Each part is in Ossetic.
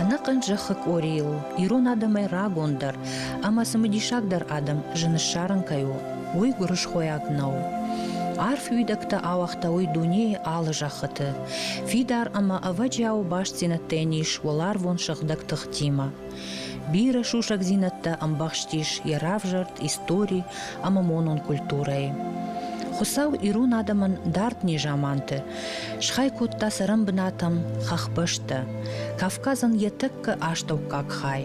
ӕнӕхъӕн зӕххы къорийыл ирон адӕмӕй рагондӕр ӕмӕ цымыдисагдӕр адӕм зын ссарын кӕй у, уый гуырысхойаг нӕу. Арф уидӕгтӕ ауагъта уый дунейы алы зӕххыты. Фидар ӕмӕ ӕвӕджиау бастдзинӕдтӕ йын ис уӕларвон сыгъдӕг тыхтимӕ. Бирӕ сусӕгдзинӕдтӕ ӕмбӕхстис йӕ равзӕрд истори ӕмӕ монон культурӕйы. Хуыцау ирон адӕмӕн дард незаманты схай кодта цӕрӕн бынатӕм хӕхбӕстӕ, Кавказӕн йӕ тӕккӕ астӕуккаг хай.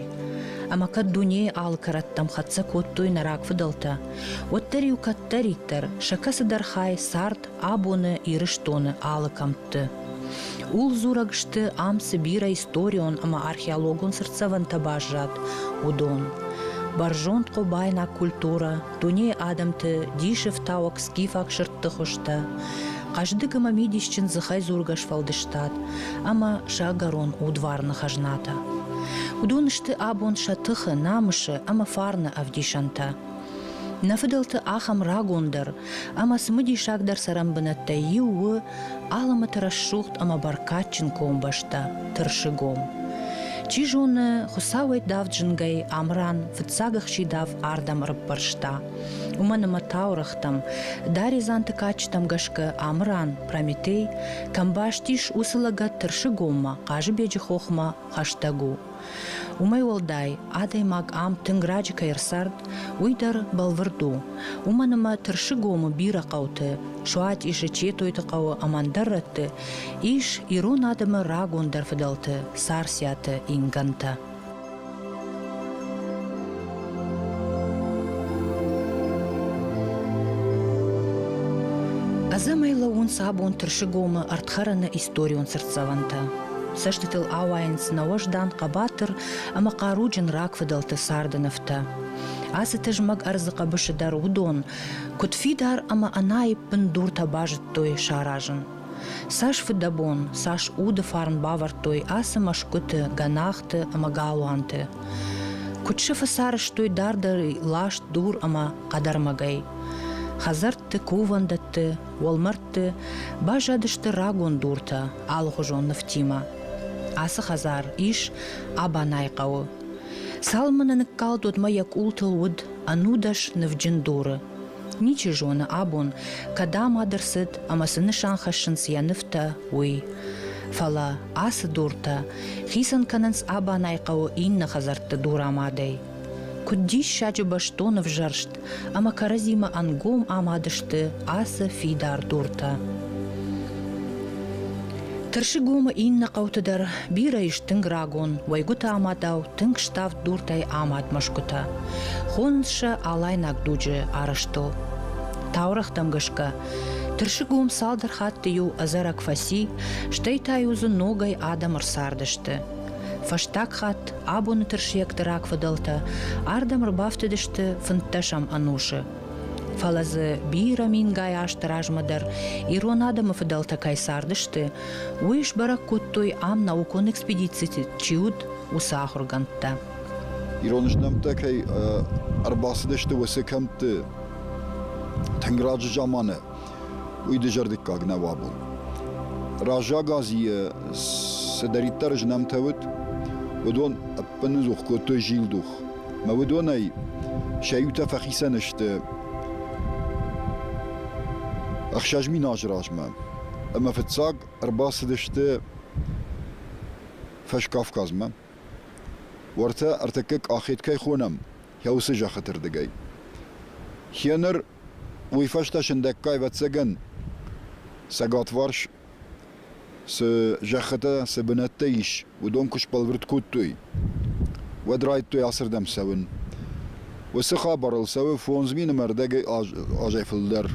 Ӕмӕ кӕд дунейы алы кӕрӕттӕм хӕццӕ кодтой нӕ рагфыдӕлтӕ, уӕддӕр-иу кӕддӕриддӕр сӕ кӕцыдӕр хай цард абоны Ирыстоны алы кӕмтты. Ул-дзурӕг сты, ам цы бирӕ историон ӕмӕ археологон цыртдзӕвӕнтӕ баззад, уыдон. Бӕрзонд хъобайнаг культурӕ, дунейы адӕмты дисы фтауӕг скифаг сырдты хуызтӕ, хъӕздыг ӕмӕ мидисджын дзыхӕй дзургӕ сфӕлдыстад ӕмӕ сӕгӕрон удварны хӕзнатӕ. Уыдон сты абон сӕ тыхы, намысы ӕмӕ фарны ӕвдисӕнтӕ. Нӕ фыдӕлты ахӕм рагондӕр ӕмӕ цымыдисагдӕр цӕрӕнбынӕттӕй иу у Алымыты рӕсугъд ӕмӕ бӕркадджын комбӕстӕ Тырсыгом. Чи зоны, Хуыцауӕй давд зынгӕй Амран фыццаг ӕхсидав ардӕм ӕрыппӕрста. Уымӕн ӕмӕ таурӕгътӕм, даредзанты кадджытӕм гӕсгӕ Амран, Прометей, кӕм бӕстис, уыцы лӕгӕт Тырсыгоммӕ, Хъазыбеджы хохмӕ хӕстӕг у. Уымӕй уӕлдай, адӕймаг ам тынг раджы кӕй ӕрцард, уый дӕр бӕлвырд у. Уымӕн ӕмӕ Тырсыгомы бирӕ хъӕуты, Суатъисы, Четойты хъӕуы ӕмӕ ӕндӕр рӕтты ис ирон адӕмы рагондӕр фыдӕлты, Царциаты ингӕнтӕ. Ӕдзӕмӕй лӕууынц абон Тырсыгомы ӕрдхӕрӕны историон цыртдзӕвӕнтӕ. Цӕстытыл ауайынц нӕ уӕздан хъӕбатыр ӕмӕ хъаруджын рагфыдӕлты царды нывтӕ. Ацы тызмӕг ӕрдзы хъӕбысы дӕр уыдон, куыд фидар ӕмӕ ӕнаиппын дуртӕ базыдтой саразын. Цас фыдӕбон, цас уды фарн бавӕрдтой ацы мӕсгуыты, гӕнахты ӕмӕ галуанты. Куыд сыфы сарӕзтой дардӕй ласт дур ӕмӕ хъӕдӕрмӕгӕй. Хӕдзӕртты, кувӕндӕтты, уӕлмӕрдты баззадысты рагон дуртӕ, алыхуызон нывтимӕ. Ацы хӕдзар ис Абанайы хъӕуы. Цалынмӕ нӕ ныккалд, уӕдмӕ йӕ къултыл уыд ӕнудӕс нывджын дуры. Ничи зоны абон, кӕд ӕмад ӕрцыд ӕмӕ цы нысан хӕссынц йӕ нывтӕ, уый. Фӕлӕ ацы дуртӕ хицӕн кӕнынц Абанайы хъӕуы иннӕ хӕдзӕртты дурамадӕй. Куыд диссаджы бӕстон ӕвзӕрст ӕмӕ кӕрӕдзимӕ ӕнгом амад сты ацы фидар дуртӕ. Тырсыгомы иннӕ хъӕуты дӕр бирӕ ис тынг рагон, уӕйгуыты амадау тынг ставд дуртӕй амад мӕсгуытӕ. Хонынц сӕ алайнаг дуджы арӕзтыл. Таурӕгътӕм гӕсгӕ, Тырсыгом цалдӕр хатты иу ӕдзӕрӕг фӕци, стӕй та-иу дзы ногӕй адӕм ӕрцардысты. Фӕстаг хатт абоны тырсиӕгты рагфыдӕлтӕ ардӕм ӕрбафтыдысты фынддӕсӕм ӕнусы. Фӕлӕ дзы бирӕ мингай азты размӕ дӕр ирон адӕмы фыдӕлтӕ кӕй цардысты, уый сбӕрӕг кодтой ам наукон экспедицити чи уыд, уыцы ахуыргӕндтӕ. Ирон знӕмттӕ кӕй ӕрбацыдысты уыцы кӕмтты тынг раджы заманы, уый дызӕрдыггаг нӕу абон. Раззаг Азийы цыдӕриддӕр знӕмтӕ уыд, уыдон ӕппыныдзух кодтой зилдух. Мӕ уыдонӕй сӕ иутӕ фӕхицӕн сты ӕхсӕз мин азы размӕ, ӕмӕ фыццаг ӕрбацыдысты Фӕскавказмӕ. Уӕртӕ ӕртӕккӕ Къахет кӕй хонӕм, йӕ уыцы зӕххыты рдыгӕй. Хеныр уый фӕстӕ сындӕггай, ӕвӕццӕгӕн, цӕгатварс цы зӕххытӕ, цы бынӕттӕ ис, уыдон куы сбӕлвырд кодтой, уӕд райдтой ацырдӕм цӕуын. Уыцы хабарыл цӕуы фондз мины мӕрдӕгӕй азӕй фылдӕр.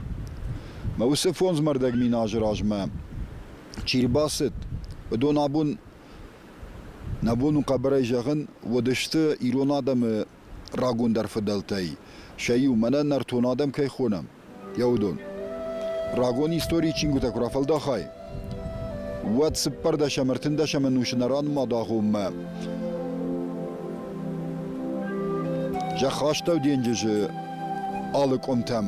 Мӕ уыцы фондз мӕрдӕг мин азы размӕ чи рбацыд, уыдон абон, нӕ бон у хъӕбӕрӕй зӕгъын, уыдысты ирон адӕмы рагондӕр фыдӕлтӕй сӕ иу, мӕнӕ нӕртон адӕм кӕй хонӕм, йӕ уыдон. Рагон историйы чингуытӕ куы рафӕлдахай, уӕд цыппӕрдӕсӕм, ӕртындӕсӕм ӕнусы нӕ ранымад агъоммӕ зӕххастӕу денджызы алы къуымтӕм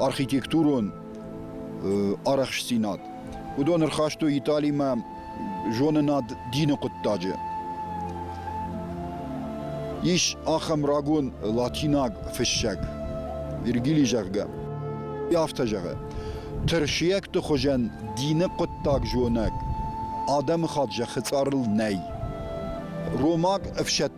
архитектурон арӕхстдзинад. Уыдон ӕрхастой Италимӕ зонынад дины хъуыддаджы. Ис ахӕм рагон латинаг фыссӕг, Вергилий зӕгъгӕ, афтӕ зӕгъы: Тырсиӕгты хуызӕн дины хъуыддаг зонӕг адӕмыхатт зӕххы цъарыл нӕй. Ромаг ӕфсӕддон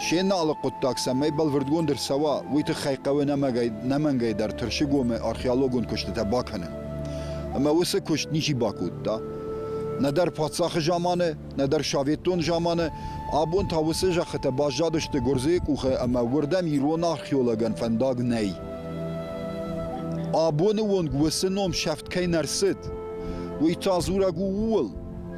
се налы хъуыддаг цӕмӕй бӕлвырдгонд ӕрцӕуа, уый тыххӕй хъӕуы нӕмӕнгӕй дӕр Тырсыгомы археологон куыстытӕ бакӕнын. Ӕмӕ уыцы куыст ничи бакодта. Нӕдӕр паддзахы заманы, нӕдӕр советон заманы абон та уыцы зӕххытӕ баззадысты гуырдзыйы къухы ӕмӕ уырдӕм ирон археологӕн фӕндаг нӕй. Абоны онг уыцы ном сӕфт кӕй нӕ рцыд, уый та дзурӕг у ууыл,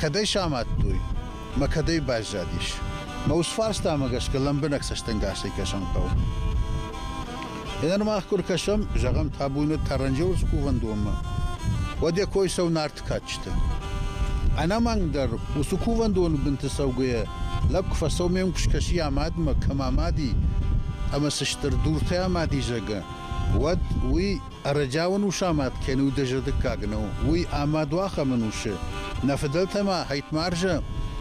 Кӕдӕй сӕ амадтой? Мӕ кӕдӕй баззадис? Мӕ усфарстамӕ гӕсгӕ лӕмбынӕг цӕстӕнгасӕй кӕсӕн хъӕуы. Ӕнӕрмӕг куы ркӕсӕм, зӕгъӕм, табунӕ Таранджеуырс кувӕндонмӕ, уӕд йӕ кой цӕуы нарты кадджыты. Ӕнӕмӕнгдӕр, уыцы кувӕндоны бынты цӕугӕйӕ, лӕг куы фӕцӕуы, ме мкуыст кӕсы йӕ мадмӕ, кӕм амади ӕмӕ цы стыр дуртӕ амади, зӕгъгӕ, уӕд уый Ӕрӕджиауын усамӕт кӕны удызӕр дыккаг нӕу, уый ӕмӕ дуахӕмы нусы, нӕ фыдӕлтӕ ма Хӕйтмӕрзӕ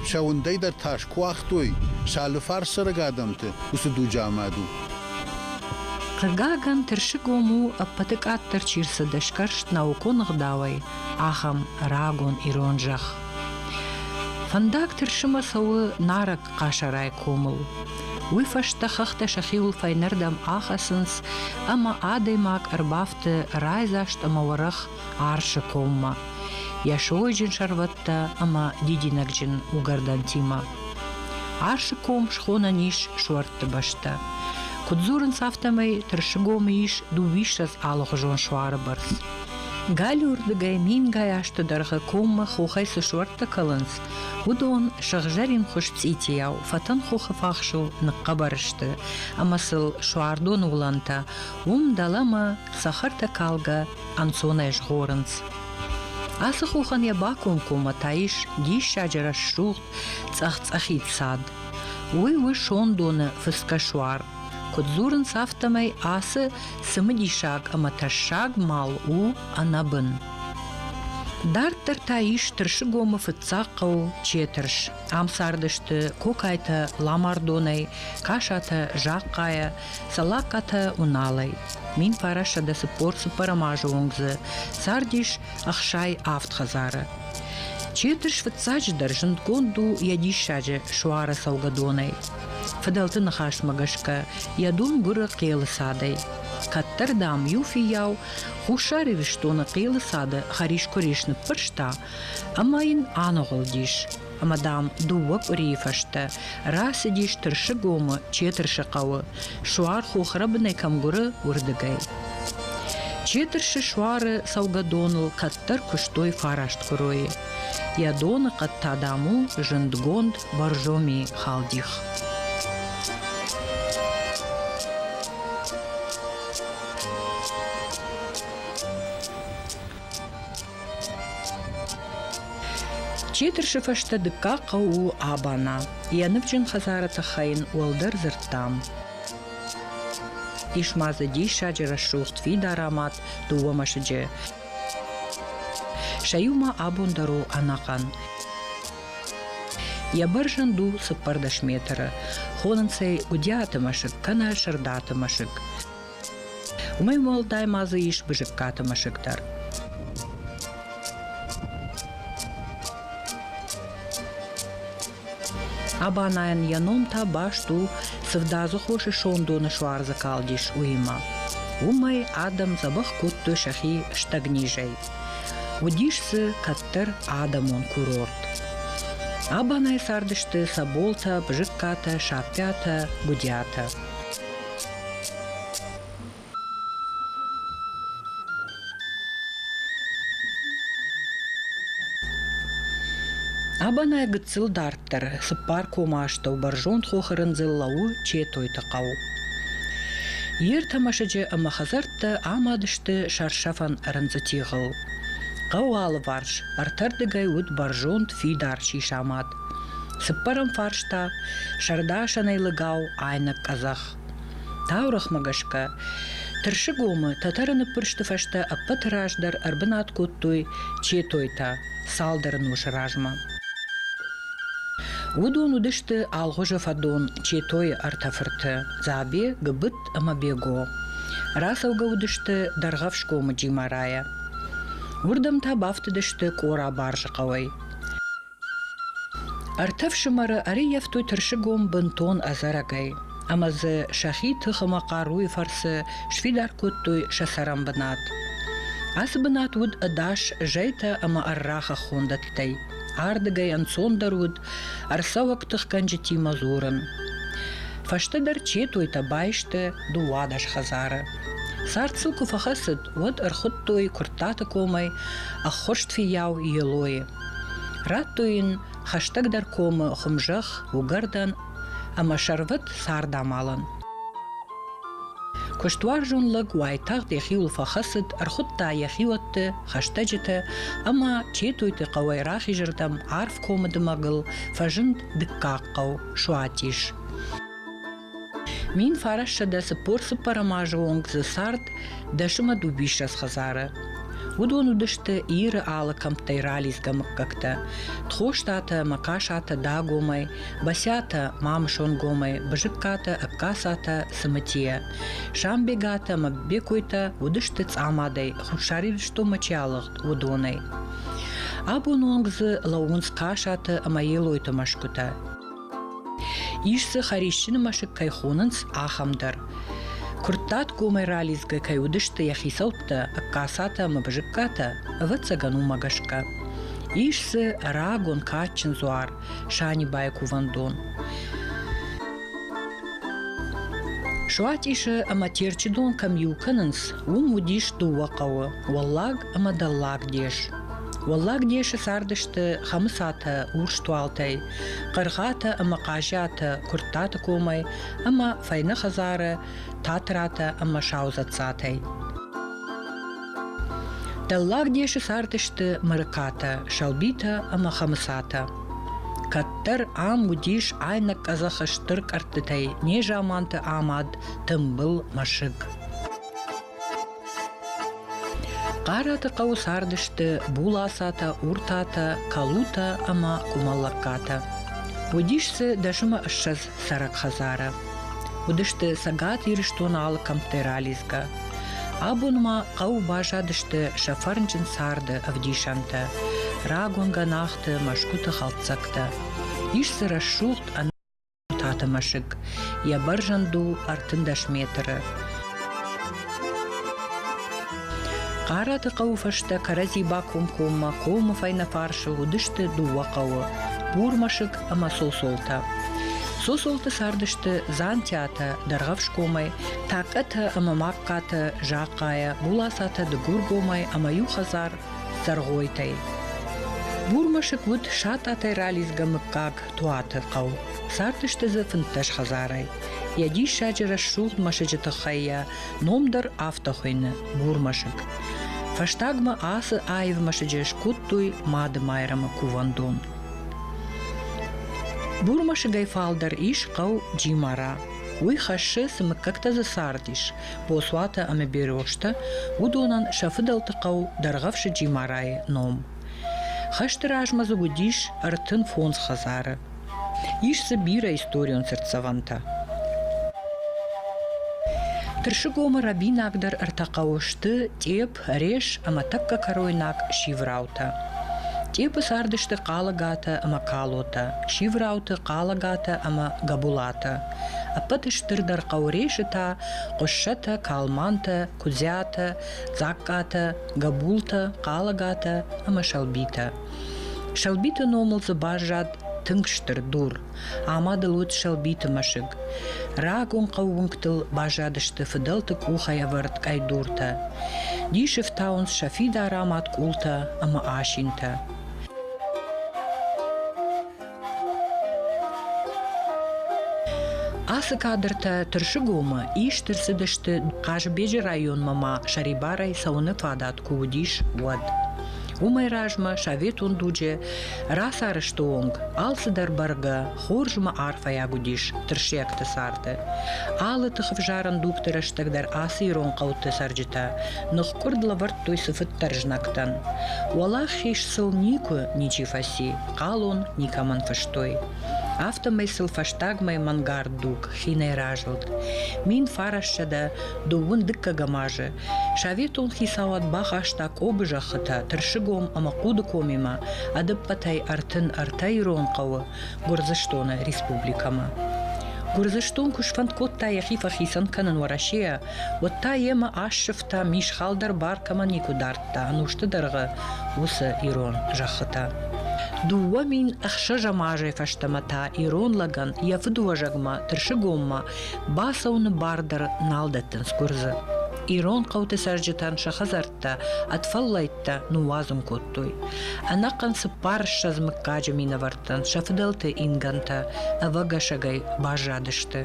сӕ уындӕй дӕр тас куы уагътой, сӕ алыфарс цӕрӕг адӕмты уыцы дуджы амад у. Хъыгагӕн, Тырсыгом у, ӕппӕты къаддӕр чи рцыд сгӕрст наукон ӕгъдауӕй, ахӕм рагон ирон зӕхх. Фӕндаг Тырсымӕ цӕуы Нарӕг Къӕсӕрӕй комыл. Уый фӕстӕ хӕхтӕ сӕхиуыл фӕйнӕрдӕм ахӕцынц, ӕмӕ адӕймаг ӕрбафты райдзаст ӕмӕ уӕрӕх арсы коммӕ, йӕ сойджын сӕрвӕттӕ ӕмӕ дидинӕгджын угӕрдӕнтимӕ. Арсы ком схонӕн ис суӕртты бӕстӕ. Куыд дзурынц, афтӕмӕй тырсыгомы ис дыууиссӕдз алыхуызон суары бӕрц. Галиуырдыгӕй мингай азты дӕргъы коммӕ хохӕй цы суӕрттӕ кӕлынц, Уыдон, сыгъзӕрин хуыз цъитийау, фӕтӕнхохы фахсыл ныхъхъӕбӕр сты, ӕмӕ сыл суардоны уылӕнтӕ, уым дӕлӕмӕ цӕхӕртӕ калгӕ ӕнцонӕй згъорынц. Ацы хохӕн йӕ бакомкоммӕ та ис диссаджы рӕсугъд цъӕх-цъӕхид цад. Уый у сондоны фыцгӕ суар. Куыд дзурынц, афтӕмӕй ацы цымыдисаг ӕмӕ тӕссаг мал у ӕнӕбын. Дарддӕр та ис Тырсыгомы фыццаг хъӕу Четырс. Ам цардысты Кокайтӕ Ламардонӕй, Касатӕ Захъхъайӕ, Цӕлакъатӕ Уналӕй. Мин парассӕдӕ цыппор-цыппӕрӕм азы онг дзы цардис ӕхсай авд хӕдзары. Четырс фыццаджыдӕр зындгонд у йӕ диссаджы суары цӕугӕдонӕй. Фыдӕлты ныхасмӕ гӕсгӕ, йӕ дон гуыры хъелы цадӕй. Кӕддӕр, дам, иу фыййау Хуссар Ирыстоны хъилы цады хӕрискуырис ныппӕрста ӕмӕ йын аныгъуылдис. Ӕмӕ, дам, дыууӕ къуырийы фӕстӕ рацыдис Тырсыгомы Четырсы хъӕуы, суар хохрӕбынӕй кӕм гуыры, уырдыгӕй. Четырсы суары цӕугӕдоныл кӕддӕр куыстой фараст куыройы. Йӕ доны хъӕд та, дам, у зындгонд Боржоми халдих. Чи тырсы фӕстӕ дыккаг хъӕу у Абана. Йӕ ныфджын хӕдзары тыххӕй йын уӕлдӕр дзырдтам. Ис ма дзы диссаджы рӕсугъд фидар амад дыууӕ мӕсыджы. Сӕ иу ма абон дӕр у ӕнӕхъӕн. Йӕ бӕрзӕнд у цыппӕрдӕс метры. Хонынц ӕй Гуыдиаты мӕсыг кӕнӕ Сырдаты мӕсыг. Уымӕй уӕлдай ма дзы ис Бызыккаты мӕсыг дӕр. Абанайӕн йӕ ном та баст у цывдадзы хосы сондоны суарзы калдис уыимӕ. Уымӕй адӕм дзӕбӕх кодтой сӕхи стӕгнизӕй. Уыдис дзы кӕддӕр адӕмон курорт. Абанайы цардысты Соболтӕ, Бызыккатӕ, Саппиатӕ, Гудиатӕ. Абанӕй гыццыл дарддӕр цыппар комы астӕу бӕрзонд хохы рындзыл лӕууы Четойты хъӕу. Йе ртӕ мӕсыджы ӕмӕ хӕдзӕрттӕ амад сты сӕрсӕфӕн рындзы тигъыл. Хъӕуы алыварс ӕртӕрдыгӕй уыд бӕрзонд фидар сисамад. Цыппӕрӕм фарс та сӕрдасӕнӕй лӕгау айнӕг къӕдзӕх. Таурӕгъмӕ гӕсгӕ, Тырсыгомы тӕтӕры ныппырсты фӕстӕ ӕппӕты раздӕр ӕрбынат кодтой четойтӕ цалдӕр носы размӕ. Уыдон уыдысты Алгъуызы фӕдон, Четойы ӕртӕ фырты Дзабе, Гыбыт ӕмӕ Бего. Рацӕугӕ уыдысты Дӕргъӕфсгомы Джимарайӕ. Уырдӕм та бафтыдысты Къора-Барзы хъӕуӕй. Ӕртӕ фсымӕры ӕрӕййӕфтой тырсыгом бынтон ӕдзӕрӕгӕй, ӕмӕ дзы сӕхи тыхы ӕмӕ хъаруйы фӕрцы сфидар кодтой сӕ цӕрӕн бынат. Ацы бынат уыд ӕдас зӕйтӕ ӕмӕ ӕррӕгъы хондӕттӕй. Ардыгӕй ӕнцондӕр уыд ӕрцӕуӕг тыхгӕнджытимӕ дзурын. Фӕстӕдӕр четойтӕ байсты дыууадӕс хӕдзары. Цард сыл куы фӕхӕцыд, уӕд ӕрхуыдтой Куырттаты комӕй ӕххуырст фиййау Елойы. Радтой йын хӕстӕгдӕр комы хуымзӕхх, уыгӕрдӕн ӕмӕ сӕрвӕт цардамалӕн. Куыстуарзон лӕг уайтагъд йӕхиуыл фӕхӕцыд, ӕрхуыдта йӕ хиуӕтты, хӕстӕджыты ӕмӕ Четойты хъӕуӕй рахизырдӕм арф комы дымӕгыл фӕзынд дыккаг хъӕу, Суатис. Мин фарассӕдӕ цыппор-цыппӕрӕм азы онг дзы цард дӕсымӕ дубиссӕдз хӕдзары. Уыдон уыдысты Иры алы кӕмттӕй ралидзгӕ мыггӕгтӕ – Тхостатӕ, Махъасатӕ Дагомӕй, Басиатӕ Мамысонгомӕй, Бызыккатӕ, Ӕгкацатӕ, Цымытийӕ. Самбегатӕ ӕмӕ Бекойтӕ уыдысты цъамадӕй, Хуссар Ирыстонмӕ чи алыгъд, уыдонӕй. Абон онг дзы лӕууынц Хъасаты ӕмӕ Елойты мӕсгуытӕ. Ис дзы хӕрисджын мӕсыг кӕй хонынц, ахӕм дӕр. Куырттат комӕй ралидзгӕ кӕй уыдысты йӕ хицӕуттӕ Ӕккасатӕ ӕмӕ Бызыккатӕ, ӕвӕццӕгӕн, уымӕ гӕсгӕ. Ис дзы рагон кадджын дзуар, Санибайы кувӕндон. Суатъисы ӕмӕ Терчы дон кӕм иу кӕнынц, уым уыдис дыууӕ хъӕуы – Уӕллаг ӕмӕ Дӕллаг дес. Уӕллаг десі цардысты Хӕмыцатӕ урс туалтӕй, Хъыргъатӕ ӕмӕ Хъазиатӕ Куырттаты комӕй ӕмӕ Фӕйнӕ хӕдзары Татратӕ ӕмӕ Саузӕццатӕй. Дӕллаг десы цардысты Мырыкатӕ, Сӕлбитӕ ӕмӕ Хӕмыцатӕ. Кӕддӕр ам уыдис айнӕг къӕдзӕхы стыр кӕрдтытӕй незаманты амад, тымбыл мӕсыг. Хъараты хъӕуы цардысты Булацатӕ, Уртатӕ, Калутӕ ӕмӕ Къумалаккатӕ. Уыдис дзы дӕсымы ссӕдз цӕрӕг хӕдзары. Уыдысты Цӕгат Ирыстоны алы кӕмтӕй ралидзгӕ. Абон ма хъӕуы баззадысты сӕ фӕрнджын царды ӕвдисӕнтӕ – рагон гӕнахты, мӕсгуыты хӕлддзӕгтӕ. Ис дзы рӕсугъд Таты мӕсыг йӕ бӕрзӕнд у ӕртындӕс метры. Хъараты хъӕуы фӕстӕ кӕрӕдзи бакомкоммӕ комы фӕйнӕфарсы уыдысты дыууӕ хъӕуы – Бурмӕсыг ӕмӕ Сосолтӕ. Сосолты цардысты Дзантиатӕ, Дӕргъӕфсгомӕй, Такъӕтӕ ӕмӕ Магхъатӕ, Захъхъайӕ, Булацатӕ Дыгургомӕй ӕмӕ иу хӕдзар – Дзӕргъойтӕй. Бурмӕсыг уыд сатъатӕй ралидзгӕ мыггаг, Птуаты хъӕу. Цардысты дзы фынддӕс хӕдзарӕй. Йӕ диссаджы рӕсугъд мӕсыджы тыххӕй йӕ ном дӕр афтӕ хуыйны – Бурмӕсыг. Фӕстагмӕ ацы аив мӕсыджы скодтой Мады-Майрӕмы кувӕндон. Бурмӕсыгӕй фалдӕр ис хъӕу Джимара. Уый хӕссы, цы мыггӕгтӕ дзы цардис – Босуатӕ ӕмӕ Беростӕ, уыдонӕн сӕ фыдӕлты хъӕу Дӕргъӕвсы Джимарайы ном. Хӕсты размӕ дзы уыдис ӕртын фондз хӕдзары. Ис дзы бирӕ историон цыртдзӕвӕнтӕ. Тырсыгомы рӕбинагдӕр ӕртӕ хъӕуы сты Тъеп, Реш ӕмӕ тӕккӕ кӕройнаг Сивраутӕ. Тъепы цардысты Хъалагатӕ ӕмӕ Калотӕ, Сиврауты Хъалагатӕ ӕмӕ Гӕбулатӕ. Ӕппӕт стырдӕр хъӕу Решы та Хъуыссӕтӕ, Калмантӕ, Куыдзӕтӕ, Дзагкатӕ Гӕбултӕ, Хъалагатӕ ӕмӕ Сӕлбитӕ. Сӕлбиты номыл дзы баззад тынг стыр дур, ӕмӕ дыл уыд Сӕлбиты мӕсыг. Рагон хъӕууынгтыл баззадысты фыдӕлты къухӕвӕрд къӕйдуртӕ. Дисы фтауынц сӕ фидар амад къултӕ ӕмӕ асинтӕ. Ацы кадртӕ Тырсыгомы ист ӕрцыдысты Хъазыбеджы районмӕ ма сӕрибарӕй цӕуыны фадат куы уыдис, уӕд. Уымӕй размӕ советон дуджы рацарӕзты онг алцыдӕр бӕргӕ хорз ӕмӕ арфӕйаг уыдис тырсиӕгты царды. Алы тыхӕвзарӕн дугты рӕстӕг дӕр ацы ирон хъӕуты цӕрджытӕ ныхкъуырд лӕвӕрдтой цыфыддӕр знӕгтӕн. Уӕлахиз сыл никуы ничи фӕци. Хъалон никӕмӕн фыстой. Афтӕмӕй сыл фӕстагмӕ мӕнгард дуг хинӕй разылд. Мин фарассӕдӕ дыууын дыккӕгӕм азы советон хицауад бахаста Къобы зӕххытӕ Тырсыгом ӕмӕ Хъудыкомимӕ ӕдыппӕтӕй ӕртын ӕртӕ ирон хъӕуы Гуырдзыстоны республикӕмӕ. Гуырдзыстон куы сфӕнд кодта йӕхи фӕхицӕн кӕнын Уӕрӕсейӕ, уӕд та йемӕ ассывта, мисхал дӕр бар кӕмӕ никуы дардта. та ӕнусты дӕргъы уыцы ирон зӕххытӕ. Дыууӕ мин ӕхсӕзӕм азӕй фӕстӕмӕ та ирон лӕгӕн йӕ фыдыуӕзӕгмӕ тырсыгоммӕ бацӕуыны бар дӕр нал дӕттынц гуырдзы. Ирон хъӕуты цӕрджытӕн сӕ хӕдзӕрттӕ ӕд фӕллӕйттӕ ныууадзын кодтой. Ӕнӕхъӕн цыппар ссӕдз мыггаджы минӕвӕрттӕн сӕ фыдӕлты ингӕнтӕ ӕвӕгӕсӕгӕй баззадысты.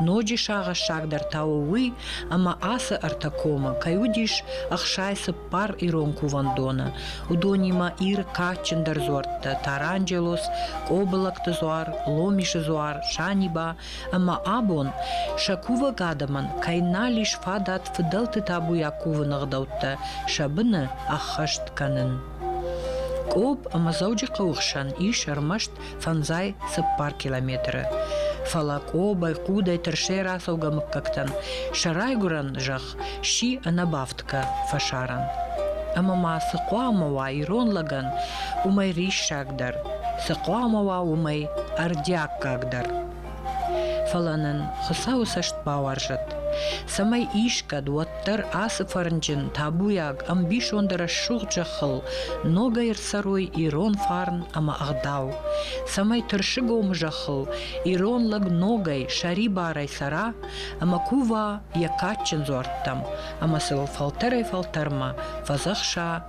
Ноджы сагъӕссагдӕр та у уый, ӕмӕ ацы ӕртӕ комы кӕй уыдис ӕхсай цыппар ирон кувӕндоны, уыдонимӕ Иры кадджындӕр дзуӕрттӕ Таранджелос, Къобылӕгты дзуар, Ломисы дзуар, Саниба ӕмӕ абон сӕ кувӕг адӕмӕн кӕй нал ис фадат фыдӕлты табуйаг кувыны ӕгъдӕуттӕ сӕ быны ӕххӕст кӕнын. Къоб ӕмӕ Дзӕуджыхъӕуы хсӕн ис ӕрмӕст фӕнзай цыппар километры. Фӕлӕ Къобай хъудӕй тырсӕй рацӕугӕ мыггӕгтӕн сӕ райгуырӕн зӕхх сси ӕнӕбафтгӕ фӕсарӕн. Ӕмӕ ма цы хъуамӕ уа ирон лӕгӕн, уымӕй риссагдӕр, цы хъуамӕ уа уымӕй ӕрдиаггагдӕр. Фӕлӕ нын Хуыцауы цӕст бауарзӕд, цӕмӕй искӕд уӕддӕр ацы фӕрнджын, табуйаг, ӕмбисонды рӕсугъд зӕххыл ногӕй ӕрцӕрой ирон фарн ӕмӕ ӕгъдау, цӕмӕй тырсыгомы зӕххыл ирон лӕг ногӕй сӕрибарӕй цӕра ӕмӕ кува йӕ кадджын дзуӕрттӕм ӕмӕ сыл фӕлтӕрӕй-фӕлтӕрмӕ фӕдзӕхса